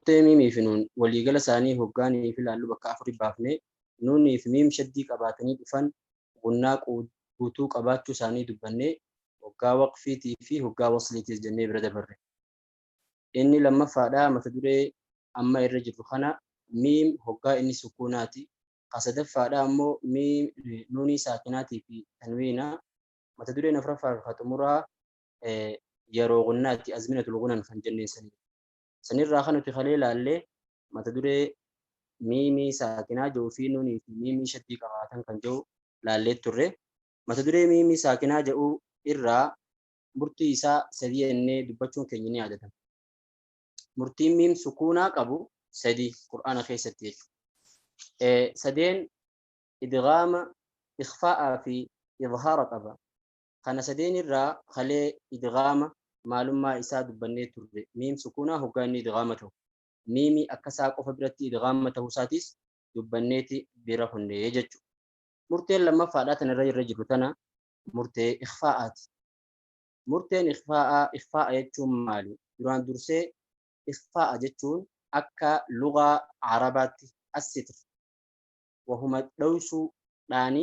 Kutee miimii fi nuun waliigala isaanii hoggaa niif ilaallu bakka afuri baafnee, nuunii fi miim shaddii qabaatanii dhufan gunnaa guutuu qabaachuu isaanii dubbannee hoggaa waqfiitii fi hoggaa wasliitiis jennee bira dabarre. Inni lammaffaadhaa mata duree amma irra jirru kana miim hoggaa inni sukuunaati. Ka sadaffaadhaa ammoo miim nuunii saakinaatii fi tanwiina. Mata dureen afraffaa fi ka xumuraa yaroo gunnaati, azminatul gunan kan jenneen saniin. Sanirraa kan nuti kalee laalle mata duree miimii saakinaa jedhuu fi nuunii fi miimii shaddii qabaatan kan jedhu laallee turre. Mata duree miimii saakinaa jedhu irraa murtii isaa sadi jennee dubbachuun keenya ni yaadatama. Murtiin miim sukuunaa qabu sadi Qur'aana keessatti jechuudha. Sadeen idgaama, ikhfaa'aa fi izhaara qaba. Kana sadeen irraa kalee idghaama maalummaa isaa dubbannee turre. Miim sukuunaa hoggaa inni idghaama tahu. Miimi akka saa qofa biratti idghaama tahuu isaatiis dubbanneeti bira kunne jechuudha. Murteen lammaffaadhaa tana irra irra jirru tana murtee ikhfaa'aati. Murteen ikhfaa'aa ikhfaa'a jechuun maali? Duraan dursee ikhfaa'a jechuun akka lugaa Arabaatti assitr wahuma dhoysuu dhaani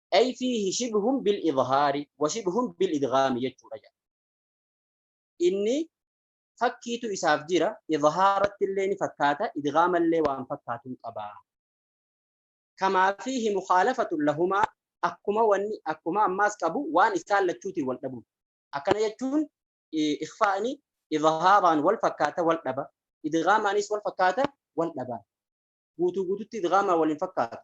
ay fiihi shibhun bil idhaari wa shibhun bil idgaami jechuudha jedha inni fakkiitu isaaf jira idhaaratti illee ni fakkaata idgaama illee waan fakkaatuun qaba kamaa fiihi mukhaalafatun lahumaa akkuma wanni akkuma ammaas qabu waan isaan lachuutiin wal dhabuun akkana jechuun ikhfaa'ni idhaaraan wal fakkaata wal dhaba idgaamaanis wal fakkaata wal dhaba guutuu guututti idgaamaa wal hin fakkaatu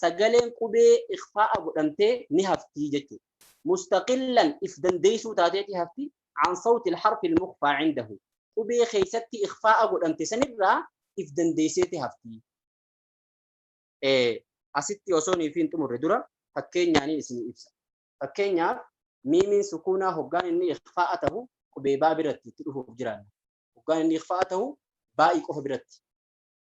sagaleen qubee ikhfaa'a godhamtee ni haftii jechuudha. Mustaqillan if dandeessuu taateeti hafti an sawti harfi ilmukhfaa cindahu. Qubee keessatti ikhfaa'a godhamte sanirraa if dandeesseeti hafti. Asitti osoo nuuf hin xumurre dura fakkeenyaan isin ibsa. Fakkeenyaaf miimiin sukuunaa hoggaan inni ikhfaa'a tahu qubee baa biratti itti dhufuuf jiraanna. Hoggaan inni ikhfaa'a tahu baa'i qofa biratti.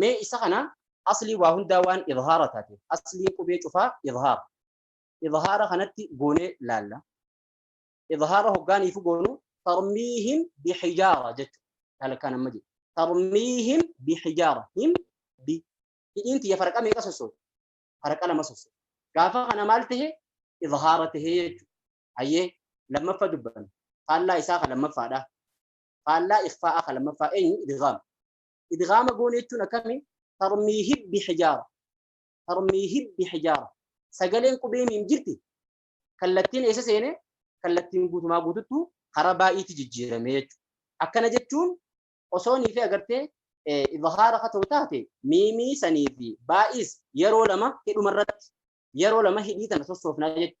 mee isa kana aslii waa hundaa waan idhaara taate aslii qubee cufaa idhaara idhaara kanatti goonee laalla idhaara hoggaaniifu goonu tarmiihim bihijaara jechu halkaan amma jedhu tarmiihim bihijaara him bi hidhiin tiyya farqa meeqa sossoo farqa lama sossoo gaafa kana maal tahe idhaara tahe jechu hayyee lammaffa dubbanna faallaa isaa ka lammaffaadha faallaa ikhfaa'aa kan lammaffaa eenyu idgaama idgaama goone jechuun akkami tarmiihi bihijaara tarmiihi bihijaara sagaleen qubee miim jirti kallattiin eessa seene kallattiin guutumaa guututtu karaa baay'eetti jijjiirame jechuudha. Akkana jechuun osoo niifi agartee idhaara akka ta'u taate miimii sanii fi baay'is yeroo lama hidhuma irratti yeroo lama hidhii tana sossoofnaa jechuudha.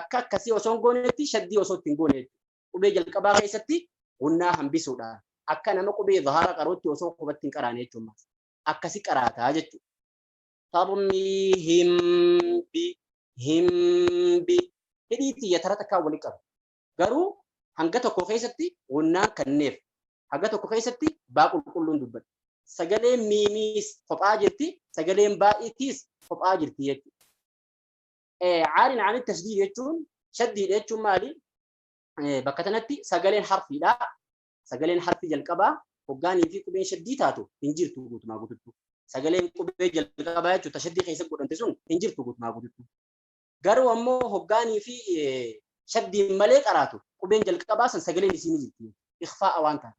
akka akkasii osoo hin goonetti shaddii osoo ittiin goone qubee jalqabaa keessatti gunnaa hambisuudha. Akka nama qubee zahaara qaruutti osoo qubatti hin qaraane jechuudha. Akkasi qaraataa jechuudha. Tarmii himbi himbi hidhii tiyya tara takkaa wali qaba. Garuu hanga tokko keessatti gunnaan kanneef hanga tokko keessatti baa qulqulluun dubbadha. Sagaleen miimiis kophaa jirti sagaleen baay'itiis kophaa jirti jechuudha. Caariin ani tasdiid jechuun shaddiidha jechuun maali? Bakka kanatti sagaleen harfiidha. Sagaleen harfii jalqabaa hoggaanii fi qubeen shaddii taatu hin jirtu guutumaa guututti. Sagaleen qubee jalqabaa jechuun tashaddii keessa godhamte sun hin jirtu guutumaa guututti. Garuu ammoo hoggaanii fi shaddiin malee qaraatu qubeen jalqabaa san sagaleen isii ni jirti. Ikfaa'a waan taate.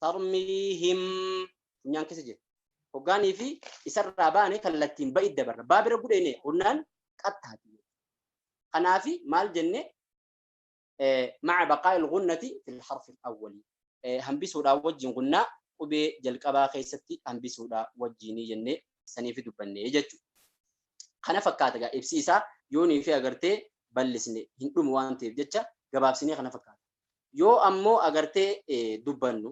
tarmiihim funyaan keessa jira hoggaanii fi isarraa baane kallattiin ba'id dabarra baa bira gudheene honnaan qattaati kanaafi maal jenne maca baqaa ilgunnati fil harfi awwali hambisuudhaa wajjin gunnaa qubee jalqabaa keessatti hambisuudhaa wajjiinii jenne saniifi dubbanne jechuudha. Kana fakkaata egaa ibsi isaa yoonii fi agartee bal'isne hin dhumu waan ta'eef jecha gabaabsinee kana fakkaata. Yoo ammoo agartee dubbannu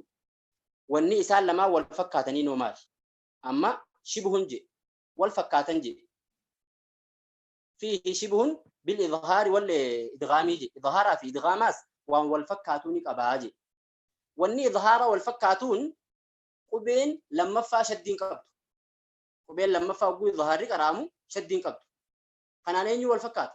wanni isaan lamaan wal fakkaataniinoo maali? Amma shibhun jedhe, wal fakkaatan jedhe. Fiihi shibhun bil idhaari wal idghaamii jedhe. Idhaaraa fi idghaamaas waan wal fakkaatuu ni qabaa jedhe. Wanni idhaaraa wal fakkaatuun qubeen lammaffaa shaddiin qabdu. Qubeen lammaffaa hogguu idhaarri qara'amu shaddiin qabdu. Kanaan eenyu wal fakkaata?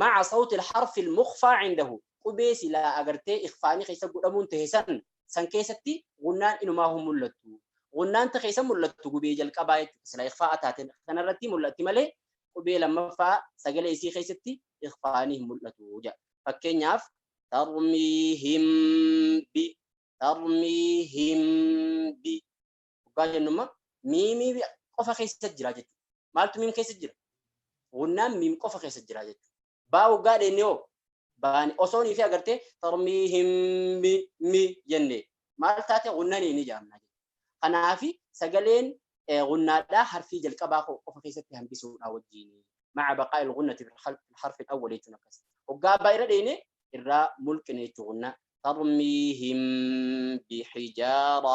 ma'a sawti harfi mukfaa cindahu qubee silaa agartee ikfaanii keessa godhamuun ta'e san san keessatti gunnaan inumaa hin mul'attu. Gunnaan ta keessa mul'attu gubee jalqabaa jechuudha. Silaa ikfaa'a taateen kanarratti mul'atti malee qubee lammaffaa sagalee isii keessatti ikfaanii hin mul'atu jedha. Fakkeenyaaf tarmiihim bi tarmiihim bi Dhugaa jennu immoo miimii qofa keessa jira jechuudha. Maaltu miim keessa jira? Gunnaan miim qofa keessa jira jechuudha. Baa waggaa dheenne hoo? Baani osoo nii fi agartee tarmii hin mi mi jenne maal taate gunnanii ni jaamna jechuudha. Kanaafi sagaleen gunnaadhaa harfii jalqabaa qofa keessatti hambisuudhaa wajjin. Maca baqaa il gunnati harfin awwali jechuun akkas. Waggaa abbaa irra dheenne irraa mulqine jechuudha gunnaa. Tarmii hin bixijaara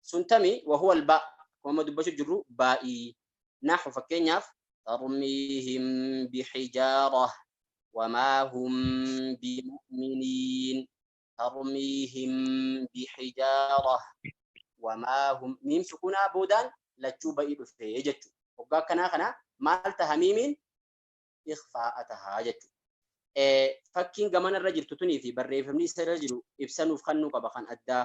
sun tami wahuwa albaa kuma dubbachuu jirru baa'ii nahu fakkeenyaaf tarmiihim bixijaara wamaa hum bimu'miniin tarmiihim bixijaara wamaa hum miim sukunaa boodaan lachuu ba'ii dhufe jechu hoggaa akkanaa kana maal taha miimiin ikfaa'a taha jechu fakkiin gamana irra jirtu tunii fi barreeffamni isa irra jiru ibsanuuf kannuu qaba kan addaa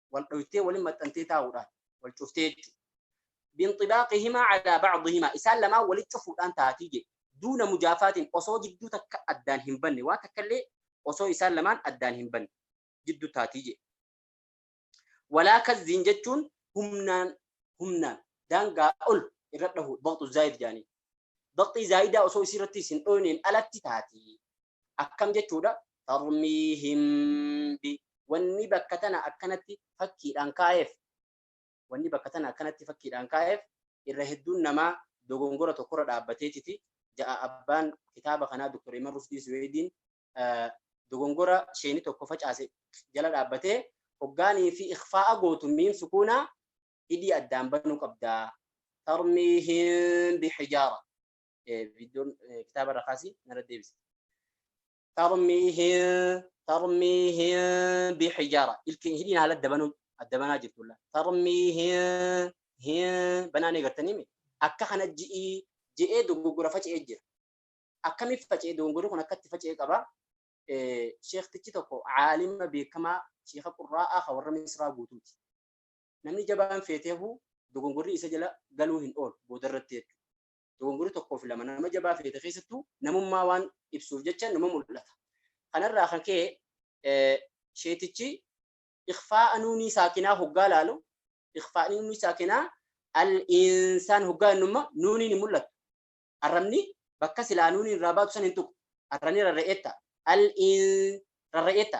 wal dhoytee waliin maxxantee taa'uudhaan wal cuftee jechuudha. Binxibaaqihimaa calaa bacdihimaa isaan lamaan waliin cufuudhaan taatii jedhe. Duuna mujaafaatiin osoo jidduu takka addaan hin banne waan takka illee osoo isaan lamaan addaan hin banne jidduu taatii jedhe. Walaa kazziin jechuun humnaan humnaan daangaa ol irra dhahu baqtu zaayid jaanii Baqxii zaa'idaa osoo isii irratti isin dhooyneen alatti taati. Akkam jechuudha? Tarmiihim bi wanni bakka tana akkanatti fakkiidhaan kaa'eef wanni bakka tana akkanatti fakkiidhaan kaa'eef irra hedduun namaa dogongora tokkorra dhaabbateetiti ja'a abbaan kitaaba kanaa Dr. Iman Rushdii Suweediin dogongora sheeni tokko facaase jala dhaabbatee hoggaanii fi ikfaa'a gootu miim sukuunaa hidhii addaan banuu qabdaa tarmiihim bihijaara viidiyoon kitaaba irra kaasii narra deebisi tarmiihim tarmiihim bihijaara ilkeen hidhiin haala adda banuu adda banaa jirtulla tarmiihim hin banaan eegartanii mi akka kana ji'ii je'ee dogoggora faca'ee jira akkamiif faca'ee dogoggorri kun akkatti faca'ee qaba sheektichi tokko caalima beekamaa sheeka qurraa'aa ka warra misraa guutuuti Namni jabaan feetee hafuu dogongorri isa jala galuu hin oolu boodarratti jechuudha. Dogongorri tokkoo fi lama nama jabaa feete keessattuu namummaa waan ibsuuf jecha nama mul'ata. Kanarraa kan ka'e eh, sheetichi ikfaa'a nuunii saakinaa hoggaa laalu ikfaa'a nuunii saakinaa al-insaan hoggaa innumma nuuniin hin mul'atu. Arrabni bakka silaa nuuniin irraa baatu san hin tuqu. Arrabni rarra'eetta. Al-in rarra'eetta.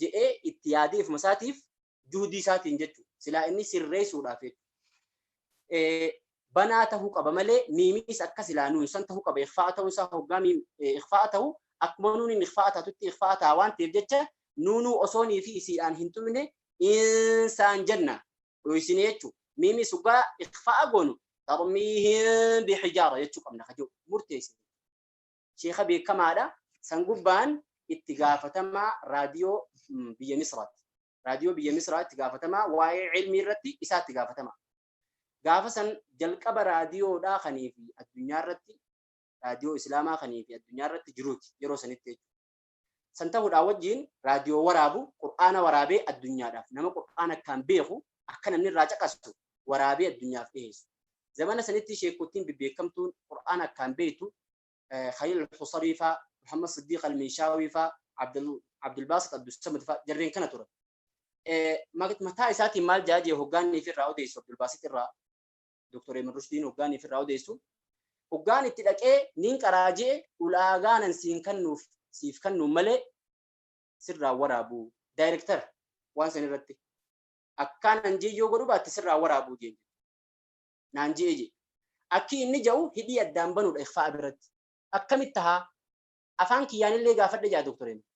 jedhee itti yaadee ofuma isaatiif juhdii isaatiin jechuudha. Silaa inni sirreessuudhaaf jechuudha. Banaa ta'uu qaba malee miimiis akka silaa nuun san ta'uu qaba. Ikfaa'a ta'uun isaa hoggaa miim ikfaa'a ta'u akkuma nuuniin ikfaa'a taatutti ikfaa'a ta'a waan ta'eef jecha nuunuu osoonii fi isiidhaan hin tumne insaan jenna dhoysine jechuudha. Miimiis hoggaa ikfaa'a goonu tarmiihin bihijaara jechuu qabna kajoo murteessine. Sheekha beekamaadha. San gubbaan itti gaafatamaa raadiyoo biyya Misraatti. Raadiyoo biyya Misraa itti gaafatamaa waa'ee ilmii irratti isaa itti gaafatamaa. Gaafa san jalqaba raadiyoodhaa kanii fi addunyaa irratti raadiyoo Islaamaa kanii fi addunyaa irratti jiruuti yeroo sanitti jechuudha. San ta'uudhaa wajjiin raadiyoo waraabu, Qur'aana waraabee addunyaadhaaf, nama Qur'aana akkaan beeku, akka namni irraa caqasu, waraabee addunyaaf dhiheessu. Zamana sanitti sheekkottiin bebbeekkamtuun Qur'aana akkaan beektu, Khaliil al-Husarii faa, Muhammad Siddiiq al-Minshaawii faa, Abdul Baasit Abdul Samad faa, jarreen kana turan. Mataa isaatiin maal ja'a jee hoggaa inni ifi irraa odeessu Abdul Baasit irraa? Dr. Eeman Rushdiin hoggaan ifirraa odeessu hoggaan itti dhaqee niin qaraa je'e ulaagaanan siin kannuuf siif kannuun malee sirraa waraabu daayirektara waan san irratti akkaanan je'e yoo godhu baatte sirraa waraabu jeen naan je'e je'e akki inni ja'u hidhii addaan banuudha ikfaa'a biratti akkamitti tahaa afaan kiyyaanillee gaafadhe jaa Dr. Eeman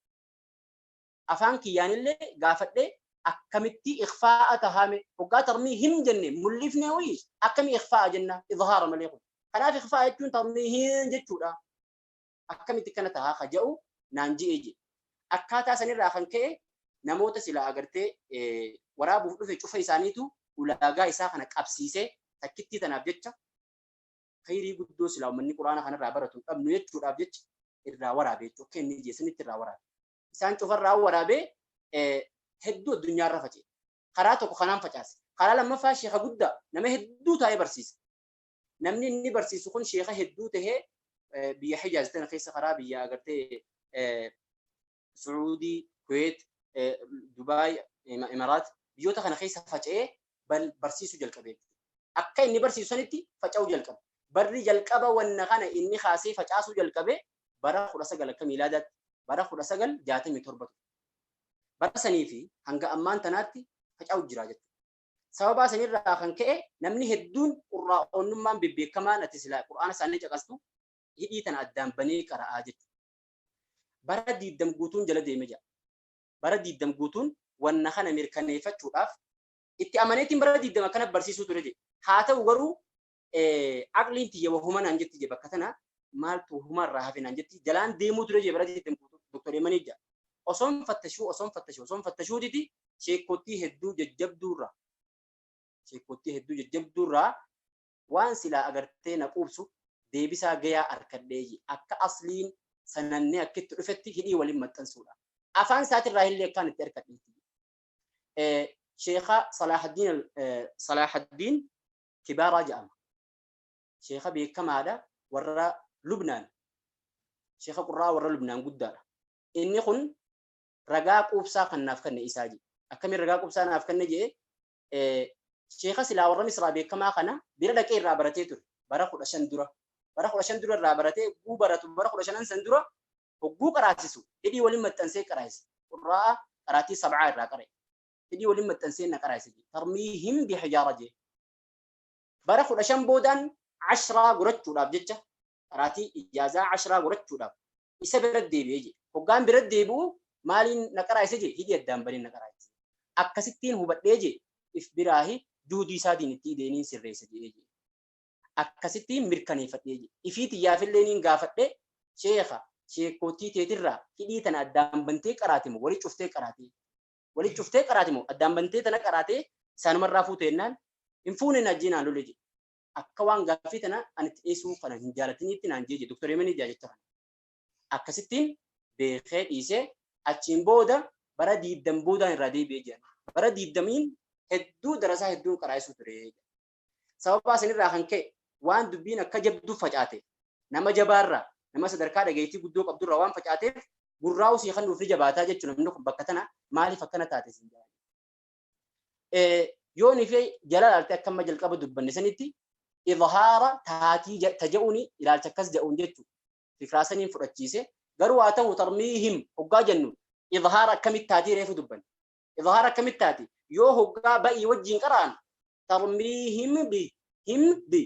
afaan kiyyaanillee gaafadhee akkamittii ikhfaa'a tahaame hoggaa tarmiihim jenne mul'ifnee wayii akkamii ikhfaa'a jenna izhaara malee kun kanaaf ikhfaa'a jechuun tarmiihiin jechuudha akkamitti kana tahaa ka ja'u naan ji'ee jedhe akkaataa sanirraa kan ka'e namoota silaa agartee waraabuuf dhufe cufa isaaniitu ulaagaa isaa kana qabsiisee takkittii tanaaf jecha khayrii guddoo silaa uummanni quraana kanarraa baratu hin dhabnu jechuudhaaf jecha irraa waraabe jechuudha kenni jeesanitti irraa waraabe isaan cufarraa waraabee hedduu addunyaarra faca'e. Karaa tokko kanaan facaase. Karaa lammaffaa sheeka guddaa nama hedduu taa'ee barsiisa. Namni inni barsiisu kun sheeka hedduu ta'ee biyya Hijaaz tana keessa karaa biyya agartee Suudii, Kuweet, Dubaay, Imaraat biyyoota kana keessa faca'ee barsiisuu jalqabe. Akka inni barsiisu sanitti faca'uu jalqabe. Barri jalqaba wanna kana inni kaasee facaasuu jalqabe bara 19 akka miilaadaatti bara 1967 ture. Bara sanii fi hanga ammaan tanaatti faca'u jira jechuudha. Sababaa sanirraa kan ka'e namni hedduun qurraa'oonnummaan bebbeekamaan ati silaa qur'aana isaanii caqastu hidhii tana addaan banee qara'aa jechuudha. Bara diiddam guutuun jala deeme jira. Bara diiddam guutuun wanna kana mirkaneeffachuudhaaf itti amaneetiin bara diiddam akkana barsiisuu ture jedhe. Haa ta'u garuu aqliin tiyya wahuma naan jetti je bakka tana maaltu huma irraa hafe naan jetti jalaan deemuu ture je bara jetten doktor Yemanii ja osoon fattashuu osoon fattashuu osoon fattashuu didi sheekottii hedduu jajjabduurraa sheekottii hedduu jajjabduurraa waan silaa agartee na quubsu deebisaa gayaa arkadhee je akka asliin sanannee akkitti dhufetti hidhii waliin maxxansuudha afaan isaatirraa illee akkaan itti arkadheetti sheekaa salaahaddiin salaahaddiin Kibaaraa ja'ama. Sheekha beekamaadha warra Lubnaan. Sheekha qurraa warra Lubnaan guddaadha. Inni kun ragaa quubsaa kan naaf kenne isaa jedhe. Akkamiin ragaa quubsaa naaf kenne jedhe sheekha silaa warra Misraa beekamaa kana bira dhaqee irraa baratee ture. Bara kudha shan dura. Bara kudha shan dura irraa baratee guu baratu bara kudha shanan san dura hogguu qaraasisu hidhii waliin maxxansee qaraasise. Qurraa qaraatii sab'aa irraa qara'e. hidhii waliin maxxansee na qaraase jedhe tarmiihim bihajaara jedhe bara kudha shan boodaan ashraa gorachuudhaaf jecha qaraatii ijaazaa ashraa gorachuudhaaf isa bira deebi'ee jedhe hoggaan bira deebi'u maaliin na qaraase jedhe hidhii addaan baniin na qaraase akkasittiin hubadhee jedhe if biraahi duudii isaa diinittii deeniin sirreessa jedhee jedhe akkasittiin mirkaneeffadhee jedhe ifii tiyyaafillee niin gaafadhe sheekha sheekootii teetirraa hidhii tana addaan bantee qaraatimo wali cuftee qaraatee walitti cuftee qaraati moo addaan bantee tana qaraatee isaanumarraa fuute jennaan hin fuune hin ajjii naan lolee jedhe akka waan gaaffii tana ani itti dhiyeessuu kana hin jaalatiniitti naan jee jedhe doktor Yemenii jaa jecha kana akkasittiin beekee dhiisee achiin booda bara diiddam boodaan irraa deebi'ee jedhan bara diiddamiin hedduu darasaa hedduun qaraa'isuu ture Sababaa isinirraa kan ka'e waan dubbiin akka jabduu facaateef nama jabaarraa nama sadarkaa dhageettii guddoo qabdurraa waan facaateef gurraa usii kan nuuf ni jabaataa jechuun namni kun bakka tana maaliif akkana taate isin jedhan. Yoo ni fi jala ilaalte akka amma jalqaba dubbanne sanitti idhaara taatii taja'uuni ilaalcha akkas ja'uun jechuudha. Fikraa saniin fudhachiise garuu haa ta'u tarmiihim hoggaa jennu idhaara akkamitti taatii reefu dubbanne. Idhaara akkamitti taati yoo hoggaa ba'ii wajjiin qaraan tarmiihim bi him bi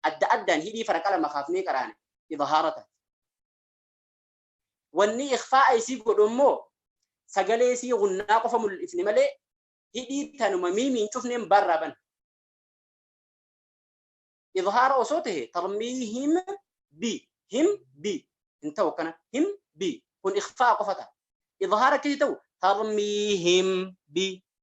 adda addaan hidhii faraqa lama kaafnee qaraane idhaara taati wanni ikhfaa'a isii godhu immoo sagalee isii gunnaa qofa mul'ifne malee hidhii tanuma miimiin cufneen barraa bana idhaara osoo tahe tarmiihim bi him bi hin ta'u akkana him bi kun ikhfaa'a qofa ta'a idhaara akkasii ta'u tarmiihim bi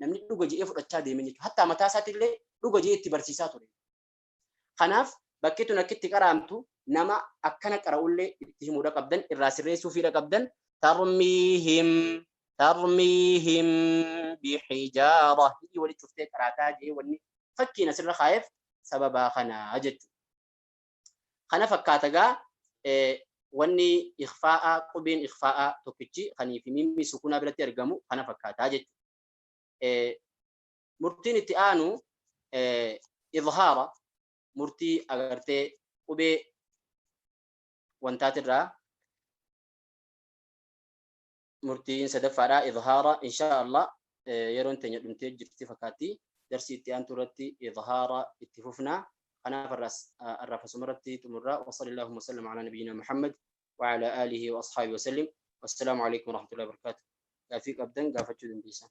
namni dhuga je'ee fudhachaa deemen jechuudha. Hattaa mataa isaatti illee dhuga je'ee itti barsiisaa ture. Kanaaf bakki tun akka itti qaraamtu nama akkana qara'ullee itti himuudha qabdan irraa sirreessuufiidha qabdan tarmiihim tarmiihim bihijaara hii walitti cuftee qaraataa jee wanni fakkiin asirra kaa'eef sababaa kanaa jechuudha. Kana fakkaata gaa wanni ikhfaa'aa qubeen ikhfaa'aa tokkichi kanii fi miimmi sukunaa biratti argamu kana fakkaataa jechuudha. Murtiin itti aanu idhaara murtii agartee qubee wantaatirraa murtiin sadaffaadha idhaara insha Allah yeroon teenya dhumtee jirti fakkaatti darsii itti aantu irratti idhaara itti fufna kanaaf arraaf asuma irratti xumurra wa sallallahu wa sallam ala nabiyyina Muhammad wa ala alihi wa ashabihi wa sallim wassalamu alaikum wa rahmatullahi wa barakatuh gaafii qabdan gaafachuu dandeessan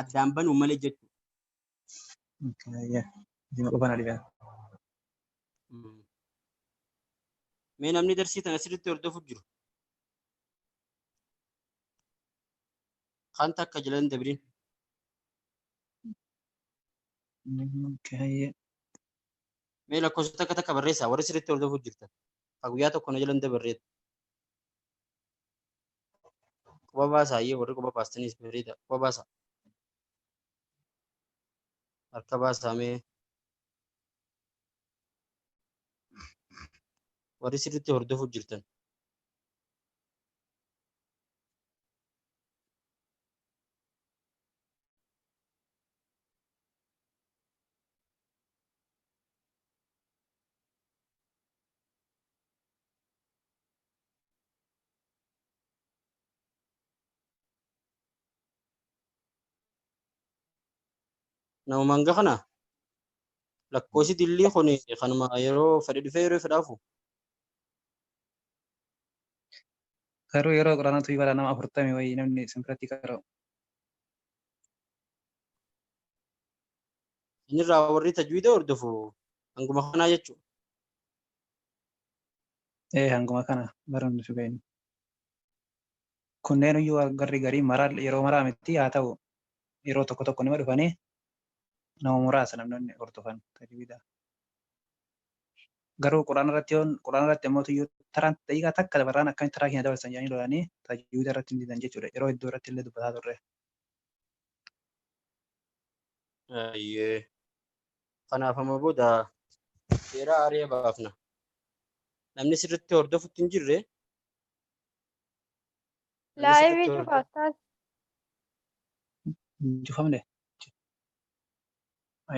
addaan banuu malee jechuudha. Jima qofaan adiidha. Mee namni darsii tana sirriitti hordofuuf jiru. Kan takka jala hin dabrin. Mee lakkoofsa takka takka barreessaa warri sirriitti hordofuuf jirtan. Kan guyyaa tokko na jala hin dabarreetu. Quba baasaa iyyuu warri quba baastanii ispeelii ta'a. Quba baasaa. Harka baasaa mee. Warri sirriitti hordofuuf jirtan. Namumaan gahana lakkoofsi dillii kun kanuma yeroo fedhe dhufee yeroo fedhe hafu. Garuu yeroo quraana tuyi bara nama afurtami wayii namni isin biratti qara'u. Inni irraa warri tajwiida hordofu hanguma kanaa jechuudha. ee hanguma kana barnoonni nuti beeknu. Kunneen iyyuu garri garii maraa yeroo maraa miti haa ta'u yeroo tokko tokko nima dhufanii nama muraasa namni hordofan tajwida. Garuu quraana irratti yoon quraana irratti ammoo iyyuu taraan daqiiqaa takka dabarraan akkamitti taraa keenya dabarsan jedhanii lolanii tajwida irratti hin didan jechuudha. Yeroo hedduu irratti illee dubbataa turre. Ayyee. Kanaaf amma booda seeraa ari'a baafna. Namni sirriitti hordofutti hin jirre. Laayivii cufaattaa. Hin cufamne.